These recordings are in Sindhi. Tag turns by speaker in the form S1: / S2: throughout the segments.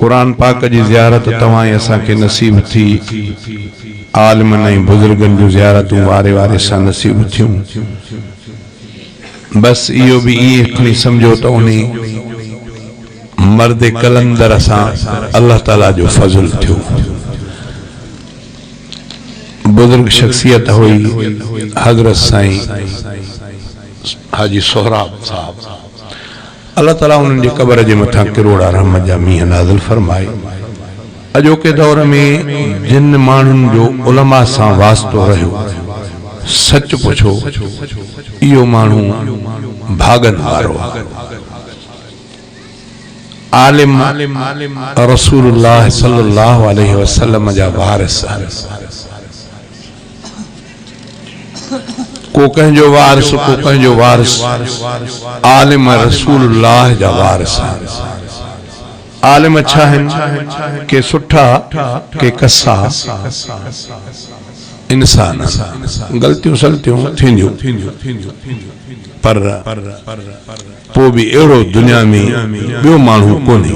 S1: قرآن پاڪ جي زيارت توهان ۽ اسان کي نصيب ٿي، عالمن ۽ بزرگن جون زيارتون واري واري سان نصيب ٿيون. بس اهو به ائين کڻي سمجهو ته انهي مرد قلندر سان الله تعاليٰ جو فضل ٿيو. بزرگ شخصيت هئي حضرت سائين حاجي سهراب صاحب. الله تعالي انهن جي قبر جي مٿان ڪروڙها رحمت جا مينهن نازل فرمائي. اڄوڪي دور ۾ جن ماڻهن جو علماء سان واسطو رهيو، سچ پڇو اهو ماڻهو ڀاڳن وارو آهي. عالم رسول الله صلي الله عليه وسلم جا وارث آهن. ڪو ڪنهن جو وارث ڪو ڪنهن جو وارث عالم رسول الله جا وارث آهن عالم ڇا آهن ڪي سٺا ڪي ڪسا انسان آهن غلطيون سلطيون ٿينديون پر پوء به اهڙو دنيا ۾ ٻيو ماڻهو ڪونهي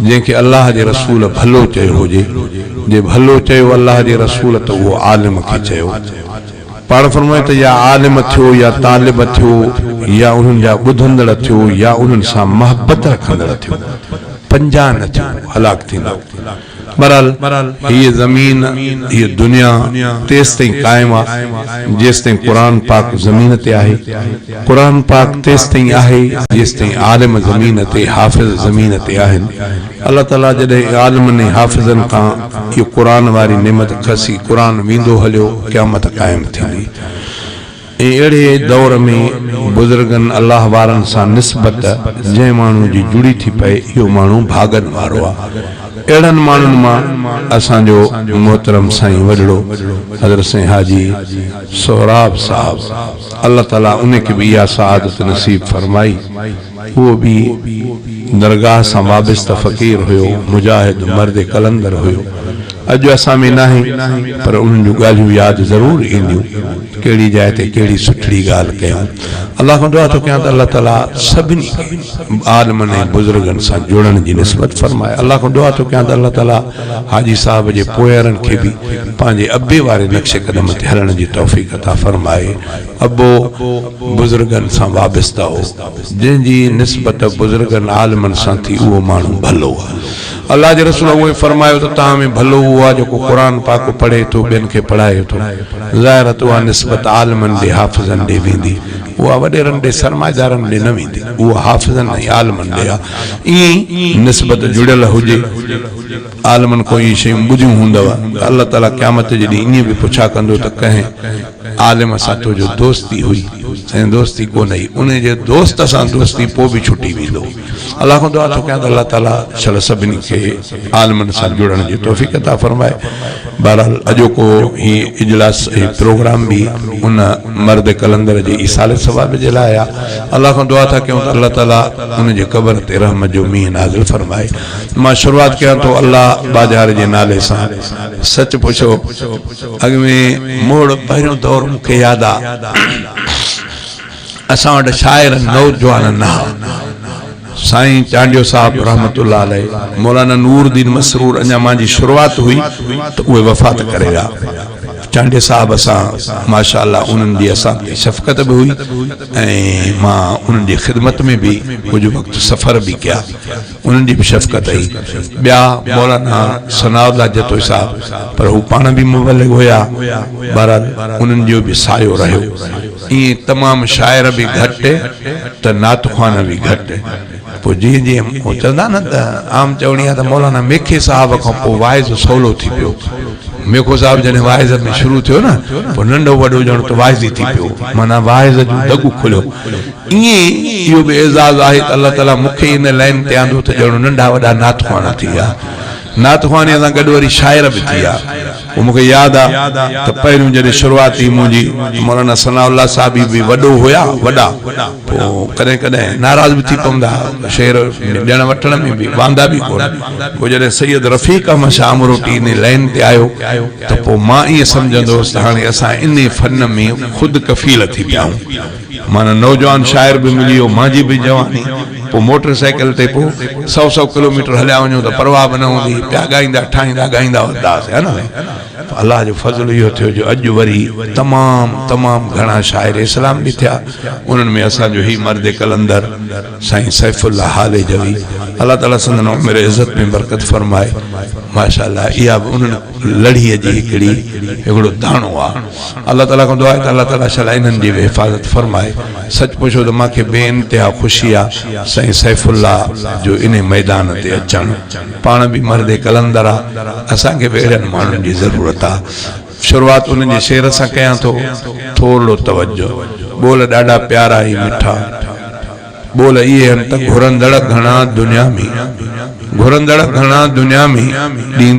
S1: جنهن کي الله جي رسول ڀلو چيو هجي، جي ڀلو چيو الله جي رسول ته اهو عالم کي چيو. پاڻ فرمائي ته يا عالم ٿيو يا طالب ٿيو يا انهن جا ٻڌندڙ ٿيو يا انهن سان محبت رکندڙ ٿيو، پنجاهه نه ٿيو هلاڪ ٿيندؤ. بهرحال هيء زمين، هيء دنيا تيستائين قائم آ، جيستائين قرآن پاڪ زمين تي آهي. قرآن پاڪ تيستائين آهي، جيستائين عالم زمين تي، حافظ زمين تي آهن. الله تعاليٰ جڏهن عالمن ۽ حافظن کان اهو قرآن واري نعمت کسي، قرآن ويندو هليو، قيامت قائم ٿيندي. ۽ اهڙي دور ۾ بزرگن الله وارن سان نسبت جنهن ماڻهو جي جڙي ٿي پئي اهو ماڻهو ڀاڳن وارو آ اهڙن ماڻهن مان اسان جو محترم سائين وڏڙو حضرت سائين حاجي سهراب صاحب الله تعالي ان کي به اها سعادت نصيب فرمائي هو به درگاهه سان وابسته فقير هيو، مجاهد، مرد قلندر هيو. اڄ اسان ۾ ناهي، پر انهن جون ڳالهيون ياد ضرور اينديون، ڪهڙي جاء تي ڪهڙي سٺڙي ڳالهه ڪيائون. الله کان دعا ٿو ڪيان ته الله تعاليٰ سڀني کي عالمن ۽ بزرگن سان جڙڻ جي نسبت فرمائي. الله کان دعا ٿو ڪيان ته الله تعاليٰ حاجي صاحب جي پوئيارن کي به پنهنجي ابي واري نقش قدم تي هلڻ جي توفيق عطا فرمائي. ابو بزرگن سان وابسته هو. جنهن جي نسبت بزرگن عالمن سان ٿي اهو ماڻهو ڀلو آهي. الله جي رسول اهو ئي فرمايو ته توهان ۾ ڀلو اهو آهي جيڪو قرآن پاڪ پڙهي ٿو ٻين کي پڙهائي ٿو. ظاهر آهي ته اها نسبت عالمن ڏي حافظن ڏي ويندي اها وڏيرن ڏي سرمائيدارن ڏي نه ويندي اها حافظن ۽ عالمن ڏي آهي. ائين نسبت جڙيل هجي. عالمن ڪو اهي شيون ٻڌيون هوندؤ ته الله تعاليٰ قيامت جي ڏينهن ائين به پڇا ڪندو ته ڪنهن عالم سان تنهنجو دوستي هئي؟ سائين دوستي ڪو نه هئي. انهي جي دوست سان دوستي پوء به ڇٽي ويندو. الله کان دعا ٿو ڪيان ته الله تعاليٰ شل سڀني کي عالمن سان جڙڻ جي توفيق عطا فرمائي. بهرحال اڄوڪو هي اجلاس هي پروگرام به ان مرد قلندر جي ايصال ثواب جي لاء آ. الله کان دعا ٿا ڪيون ته الله تعاليٰ ان جي قبر تي رحمت جو مينهن نازل فرمائي. مان شروعات ڪيان ٿو الله ٻاجهار جي نالي سان. سچ پڇو اڳ ۾ موڙ پهريون دور مون کي ياد آ اسان وٽ شاعر نوجوان نه ها. سائين چانڊيو صاحب رحمت الله عليه مولانا نور الدين مسرور اڃا مان جي شروعات هئي ته اهي وفات ڪري ويا. چانڊيو صاحب سان ماشاء الله انهن جي اسان تي شفقت به هئي ۽ مان انهن جي خدمت ۾ به ڪجهه وقت سفر به ڪيا. انهن جي به شفقت هئي. ٻيا مولانا ثناء الله جتوئي صاحب پر هو پاڻ به مبلغ هيا. بهرحال انهن جو به سايو رهيو. ائين تمام شاعر به گهٽ ته نعت خوان به گهٽ. پوء جيئن جيئن هو چوندا نه ته عام چوڻي آهي ته مولانا ميخي صاحب کان پوء واعظ سولو ٿي پيو. ميخو صاحب جڏهن واعظ ۾ شروع ٿيو نه پوء ننڍو وڏو ڄڻ ته واعظ ئي ٿي پيو. معنيٰ واعظ جون دڳون کليو. ائين اهو به اعزاز آهي ته الله تعاليٰ مون کي ان لائين تي آندو ته ڄڻ ننڍا وڏا نعت خواڻا ٿي ويا. نعت خوانيء سان گڏ وري شاعر به ٿي ويا. پوء مون کي ياد آ ته پهريون جڏهن شروعات ٿي منهنجي ته مولانا ثناء الله صاحب هي به وڏو هيا وڏا پوء ڪڏهن ڪڏهن ناراض به ٿي پوندا ها شعر ڏيڻ وٺڻ ۾ به واندا به ڪونه پوء جڏهن سيد رفيق احمد شاهه امروٽي انهي لائين تي آيو ته پوء مان ائين سمجهندو هوس ته هاڻي اسان انهي فن ۾ خود ڪفيل ٿي پيا آهيون. معنيٰ نوجوان شاعر به ملي ويو، مانجي به جواني، پوء موٽر سائيڪل تي پوء سؤ سؤ ڪلوميٽر هليا وڃون ته پرواهه به نه هوندي هئي، پيا ڳائيندا ٺاهيندا ڳائيندا هوندا هئاسين ها نه! پر الله جو فضل اهو ٿيو جو اڄ وري تمام تمام گهڻا شاعر اسلام به ٿيا، انهن ۾ اسان جو هي مرد قلندر. سائين سيف الله هاليجوي الله تعالي سندن عمر عزت ۾ برڪت فرمائي ماشاءالله اها به انهن لڙهي جي هڪڙي هڪڙو داڻو آ الله تعالي کان دعا ته الله تعالي شلا انهن جي به حفاظت فرمائي سچ پڇو ته ماکي بي انتها خوشي آ سائين سيف الله جو ان ميدان تي اچڻ پاڻ به مرد قلندر آ اسان کي به اهڙن ماڻهن جي ضرورت آ شروعات انهن جي شعر سان ڪيان ٿو، ٿورڙو توجه. ٻول ڏاڍا پيارا ۽ مٺا. ٻول اهي هن ته گهرندڙ گهڻا دنيا ۾. گهرندڙ گهڻا دنيا ۾. ڏيندڙ.